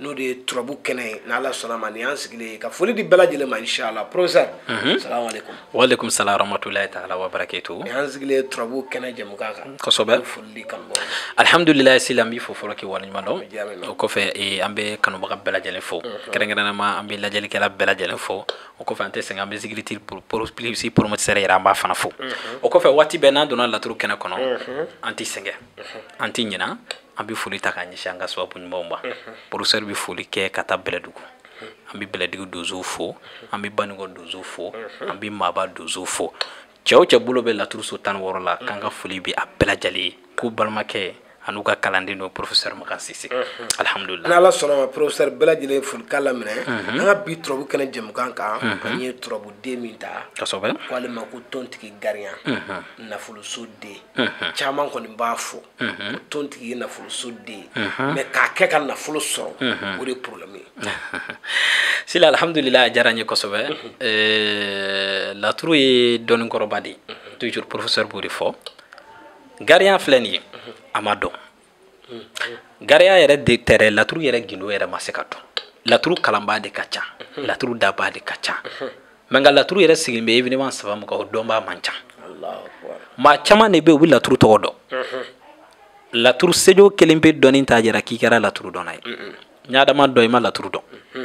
n'o de ye turabu kɛnɛ ye ni ala sɔnna ma nin y'an sigilen ye ka foli di bɛɛ lajɛlen ma inshallah professeur mhm. salamu alaikum wa alaikum salam rahmatullahi ta'ala wa barakatuh nin y'an sigilen ye turabu kɛnɛ jɛmukan kan kosɛbɛ foli di kanubɔ alhamdulillah sila n b'i fo fɔlɔ k'i waleɲuman dɔn o kɔfɛ eh, an bɛ kanubaga bɛɛ lajɛlen fo mhm. kɛrɛnkɛrɛnnama an bɛ lajɛlikɛla bɛɛ lajɛlen fo o kɔfɛ an tɛ sɛgɛn an bɛ zigiriti plus promoteur yɛrɛ an b'a fana fo mhm. o kɔfɛ waati bɛɛ n'an donna laturu kɛnɛ kɔnɔ an tɛ sɛgɛn an tɛ ɲinan an bɛ foli ta k'a ɲɛsin an ka sababu ɲumanw ma professeur bɛ foli kɛ ka taa bɛlɛdugu an bɛ bɛlɛdugu donso fo an bɛ banikɔ donso fo an bɛ maaba donso fo cɛ o cɛ bolo bɛ laturuso tan wɔɔrɔ la k'an ka foli bɛ a bɛɛ lajɛlen ye ko balimakɛ an'u ka kalanden don professeur makan sise alihamudulila n'ala sɔnna ma professeur bɛɛ lajɛlen folikan laminɛ an ka bi turabu kɛnɛ jɛmukan kan k'an ye turabuden min ta kosɛbɛ k'ale ma ko tontigi gariya nafoloso den caman kɔni b'a fɔ o tontigi ye nafoloso den mais k'a kɛ ka nafolo sɔrɔ o de ye problème ye sila alhamdulila a diyara n ye kosɛbɛ eh, laturu ye dɔnni kɔrɔba de ye toujours professeur b'o de fɔ gariya filɛ nin ye a ma dɔn gariya yɛrɛ de tɛrɛ laturu yɛrɛ gindo yɛrɛ ma se ka dɔn laturu kalanbaa de ka ca laturu dabaa de ka ca mais nka laturu yɛrɛ sigilen bɛ événement saba min kan o dɔnbaa man ca maa caman de bɛ yen u bɛ laturu tɔgɔ dɔn mhm. laturu sejo kelenpe dɔnni t'a jira k'i kɛra laturu dɔnna ye n'i y'a dama dɔn i ma laturu dɔn mhm.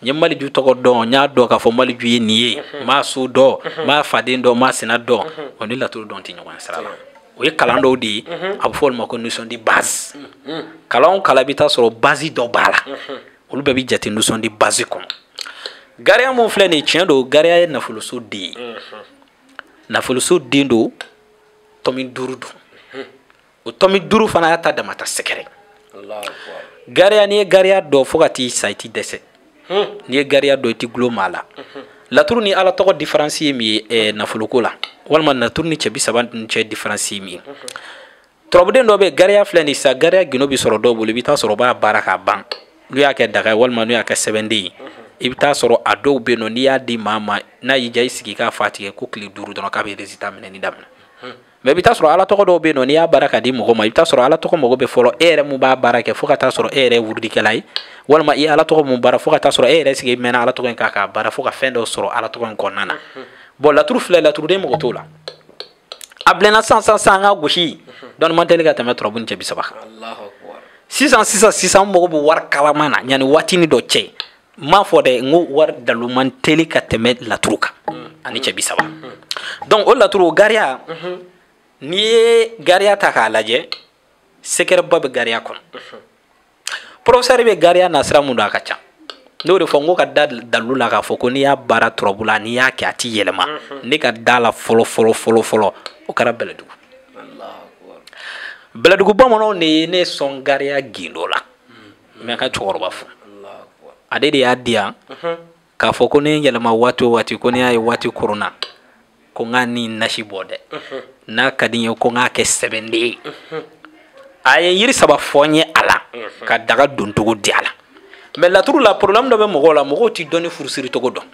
n ye maliju tɔgɔ dɔn n y'a dɔn k'a fɔ maliju ye nin ye mhm. n b'a so dɔn n b'a faden dɔn n b'a sina dɔn o ni laturu dɔn tɛ ɲɔgɔn sira la o ye kalan dɔw de ye a bɛ fɔ olu ma ko notion de base kalan o kalan i bɛ taa sɔrɔ base dɔ b'a la olu bɛɛ bɛ jate notion de base kɔnɔ gariya mun filɛ nin tiɲɛ don gariya ye nafoloso den ye mhm. nafoloso den don tɔmi duuru don mhm. o tɔmi duuru fana y'a ta damata sekɛrɛ gariya n'i ye gariya dɔn fo ka t'i sa i tɛ dɛsɛ mhm. n'i ye gariya dɔn i t'i gulon maa la laturu ni ala tɔgɔ différence ye min ye eh, nafoloko la walima laturu ni cɛ bi saba ni cɛ différence ye min ye turabuden dɔ bɛ yen gariya filɛ nin sa gariya gindo bɛ sɔrɔ dɔw bolo i bɛ taa sɔrɔ o b'a baara k'a ban n'u y'a kɛ daga ye walima n'u y'a kɛ sɛbɛnden ye i bɛ taa sɔrɔ a dɔw bɛ yen nɔ n'i y'a di maa ma n'a y'i jija i sigi k'a fa tigɛ ko tile duuru dɔrɔn k'a bɛ résultat minɛni daminɛ mais i bɛ taa sɔrɔ ala tɔgɔ dɔw bɛ yen nɔ n'i y'a baara ka di mɔgɔ ma i bɛ taa sɔrɔ ala tɔgɔ mago bɛ fɔlɔ e yɛrɛ mun b'a baara kɛ fo ka taa sɔrɔ e yɛrɛ ye wurudikɛla ye walima i ala tɔgɔ mun baara fo ka taa sɔrɔ e yɛrɛ sigi mɛnna ala tɔgɔ in kan k'a baara fo ka fɛn dɔw sɔrɔ ala tɔgɔ in kɔnɔna na bon laturu filɛ laturuden mago t'o la a bilenna sisan sisan sisan nka ko si dɔnni man teli ka tɛmɛ turabu ni cɛ bi saba kan sisan sisan sisan n mago bɛ wari kalama na yanni waatini dɔ cɛ n m'a fɔ dɛ n ko wari dalu man teli ka tɛmɛ laturu kan ani cɛ bi saba donc o laturu o gariya n'i ye gariya ta k'a lajɛ sekɛrɛba bɛ gariya kɔnɔ professeur bɛ gariya na sira mun don a ka ca n'o de fɔ n ko ka da dalu la k'a fɔ ko n'i y'a baara turabu la n'i y'a kɛ a ti yɛlɛma mhm. ne ka da la fɔlɔ fɔlɔ fɔlɔ fɔlɔ o kɛra bɛlɛdugu bɛlɛdugu bamananw de ye ne sɔn gariya gindo la n bɛ ka cɛkɔrɔba fo ale de y'a di yan mhm. k'a fɔ ko ne yɛlɛma waati o waati ko ne y'a ye waati koronna ko n ka ni nasi bɔ dɛ n'a ka di n ye ko n k'a kɛ sɛbɛnden ye a ye yiri saba fɔ n ye a la ka daga doncogo di a la mais laturu la problème dɔ bɛ mɔgɔw la mɔgɔw tɛ dɔnni furusiri cogo dɔn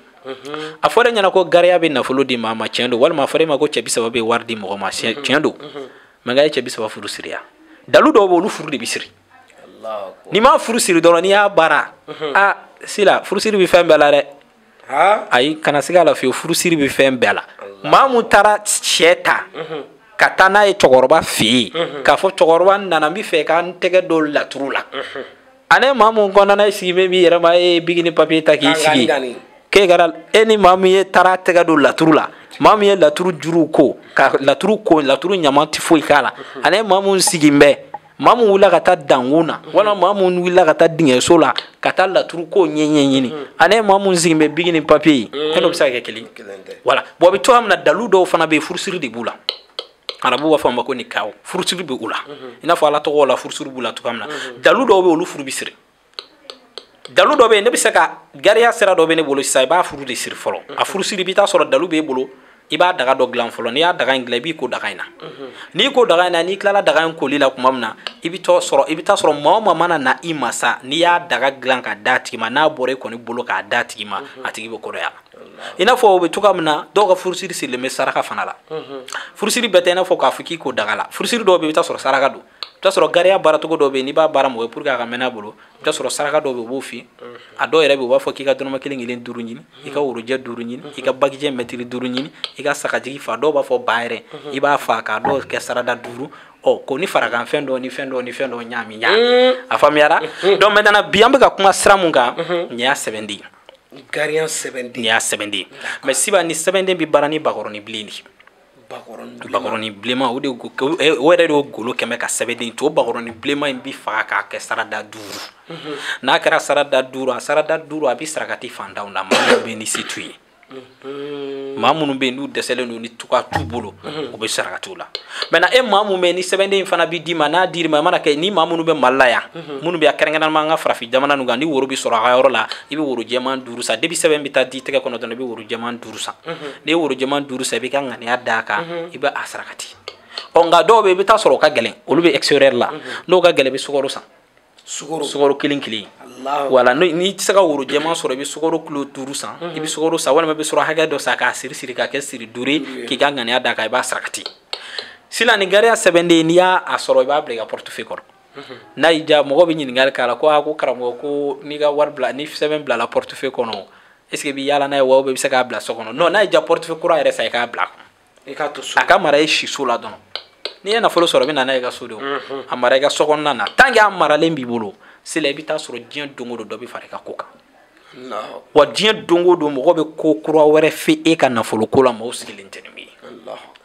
a fɔra e ɲɛna ko gariya bɛ nafolo di maa ma tiɲɛ don walima a fɔra e ma ko cɛ bi saba bɛ wari di mɔgɔ ma tiɲɛ don mais n ka ye cɛ bi saba furu siriya dalu dɔw bɛ olu furu de bɛ siri n'i ma furu siri dɔrɔn n'i y'a baara a sila furusiri bɛ fɛn bɛɛ la dɛ ayi kana siga a la fiyewu furusiri bɛ fɛn bɛɛ la maa mun taara sɛ ta ka taa n'a ye cɛkɔrɔba fɛ yen k'a fɔ cɛkɔrɔba n nana n b'a fɛ ka n tɛgɛ don laturu la ani maa mun kɔnɔna sigi bɛ b'i yɛrɛma e ye biki ni papiye ta k'i sigi k'i kalan e ni maa min ye taara tɛgɛ don laturu la maa min ye laturu juruw ko ka laturu ko laturu ɲama tɛ foyi k'a la ani maa mun sigi bɛ maa min wulila ka taa dankun na walima maa min wulila ka taa dingɛso la ka taa laturu ko ɲɛ ɲɛɲini ani maa min sigin bɛ biki ni papiye ye e n'o bɛ se ka kɛ kelen wala bon a bɛ cogo min na dalu dɔw fana bɛ yen furusiri de b'u la arabu b'a fɔ a ma ko nikahu furusiri bɛ u la i n'a fɔ ala tɔgɔ la furusiri b'u la cogoya min na dalu dɔw bɛ olu furu bɛ siri dalu dɔ bɛ yen ne bɛ se ka gariya sira dɔ bɛ ne bolo sisan i b'a furu de siri fɔlɔ a furu siri i bɛ t'a sɔrɔ dalu b'e bolo i b'a daga dɔ dilan fɔlɔ n'i y'a daga in dilan i b'i ko daga in na n'i ko daga in na n'i tilala daga in koli la tuma min na i bɛ t'a sɔrɔ i bɛ t'a sɔrɔ maa o maa mana na i ma sa n'i y'a daga dilan k'a d'a tigi ma n'a bɔra i kɔni bolo k'a d'a tigi ma a tigi bɛ kɔrɔya i n'a fɔ o bɛ cogoya min na dɔw ka furusiri sirilen bɛ saraka fana la furusiri bɛɛ tɛ i n'a fɔ k'a fɔ k'i ko daga la furusiri dɔw bɛ yen i bɛ t'a sɔrɔ saraka don t'a sɔrɔ gariya baaracogo dɔ bɛ yen n'i b'a baara mɔgɔ ye pour que a ka mɛɛn a bolo i bɛ t'a sɔrɔ saraka dɔ bɛ yen u b'o f'i ye a dɔw yɛrɛ bɛ yen u b'a fɔ k'i ka dɔrɔmɛ kelen kelen duuru ɲini i ka worojɛ duuru ɲini i ka bagijɛ mɛtiri duuru ɲini i ka sagajigi fa dɔw b'a fɔ ba yɛrɛ i b'a fa k'a dɔw kɛ sarada duuru ɔ ko ni farakan fɛn dɔ ni fɛn dɔ ni fɛn dɔ ɲaami ɲaami a faamuyara donc maintenant bi an bɛ ka kuma sira mun kan nin y'a sɛbɛnden ye gariya sɛbɛnden nin y'a sɛbɛnden ye mais siba ni sɛbɛnden bɛ baara ni bakɔrɔni bilen de ye bakɔrɔni bilenman o de eh, o yɛrɛ de o golo kɛmɛ ka sɛbɛnden to o bakɔrɔni bilenman in bi faga k'a kɛ sarada duuru mhm. n'a kɛra sarada duuru a sarada duuru a bi sarakati fantanw na maa minnu bɛ ni se t'u ye mhm. maa minnu bɛ yen n'u dɛsɛlen don ni tuka t'u bolo mhm. u bɛ sarakatiw la maintenant e maa min bɛ yen ni sɛbɛnden in fana bɛ d'i ma n'a dir'i ma i mana kɛ ni maa minnu bɛ mali la yan minnu bɛ a kɛrɛnkɛrɛnnama an ka farafin jamana ninnu kan ni woro bɛ sɔrɔ a ka yɔrɔ la i bɛ woro jɛman duuru san depuis sɛbɛn bɛ taa d'i tɛgɛ kɔnɔ dɔrɔn i bɛ woro jɛman duuru duuru san n'i ye woro jɛman duuru san i b'i ka ŋaniya d'a kan i bɛ a sarakati ɔ nka dɔw bɛ yen i bɛ taa sɔrɔ o ka gɛlɛn olu bɛ extérieur la n'o ka gɛlɛn i bɛ sukaro san sukaro kelen kelen wala n'i tɛ se ka woro jɛman sɔrɔ i bɛ sukaro kilo duuru san i bɛ sukaro san walima i bɛ sɔrɔ hakɛ dɔ san k'a siri siri k'a kɛ siri duuru ye k'i ka ŋaniya d'a kan i b'a sarakati sisan nin gariya sɛbɛnden n'i y'a sɔrɔ i b'a bila i ka portefeuille kɔnɔ n'a y'i diya mɔgɔ bɛ ɲininkali k'a la ko a ko karamɔgɔ ko n'i ka wari bila ni sɛbɛn bilala portefeuille kɔnɔ est ce que i bɛ yaala n'a ye wa ou bien i bɛ se k'a bila so kɔnɔ non n'a y'i diya portefeuille kura yɛrɛ san i k'a bila a ka mara i si so la dɔrɔn n'i ye nafolo sɔrɔ i bɛ na n'a ye i ka so de a mara i ka so kɔnɔna na tant que a maralen b'i bolo sela i bɛ taa sɔrɔ diɲɛ don o don dɔ bɛ fara i ka ko kan wa diɲɛ don o don mɔgɔ bɛ ko kura wɛrɛ fɔ e ka nafolo ko la mɔgɔw sigilen tɛ ni min ye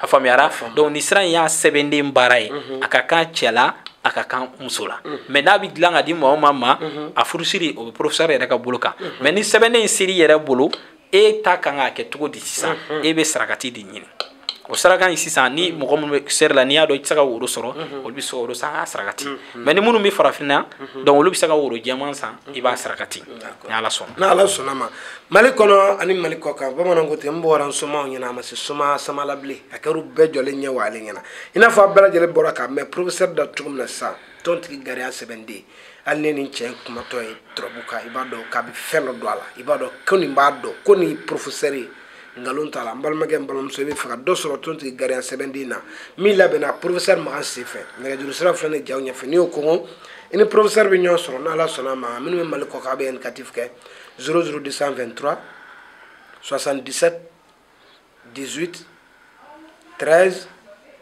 a faamuyara donc nin sira in y'a sɛbɛnden baara ye a ka kan cɛ la a ka kan muso la mais n'a bɛ dilan ka di maa o maa ma a furusiri o bɛ professeur yɛrɛ ka bolo kan mais ni sɛbɛnden in sera i yɛrɛ bolo e ka kan k'a kɛ cogo di sisan e bɛ sarakati de ɲini o saraka in sisan ni mɔgɔ minnu bɛ extérieur la n'i y'a dɔn i tɛ se ka woro sɔrɔ olu bɛ sukaro san k'a sarakati mais ni minnu bɛ farafinna donc olu bɛ se ka woro jɛman san i b'a sarakati ni ala sɔnna ni ala sɔnna a ma mali kɔnɔ ani mali kɔ kan bamananw ko ten n bɔra n somaw ɲɛna a ma se soma sama la bilen a kɛra u bɛɛ jɔlen ɲɛ wa ale ɲɛna i n'a fɔ a bɛɛ lajɛlen bɔra k'a mɛn professeur da cogo min na sisan tɔntigi gariya sɛbɛnden hali n'e nin cɛ kumatɔ ye turabu kan i b'a dɔn k'a bɛ fɛn dɔ dɔn a la i b'a dɔn ko nin b'a dɔn ko nin professeur ye nkalon t'a la n balimakɛ n balimamuso i b'a fɛ ka dɔ sɔrɔ tɔntigi gariya sɛbɛnden na min labɛnna professeur makan senfɛ nɛgɛjuru sira filɛ nin y'aw ɲɛfɛ n'i y'o kɔngɔ i ni professeur bɛ ɲɔgɔn sɔrɔ n'ala sɔnna a ma minnu bɛ mali kɔ kan a bɛ indicatif kɛ 00223 77 18 13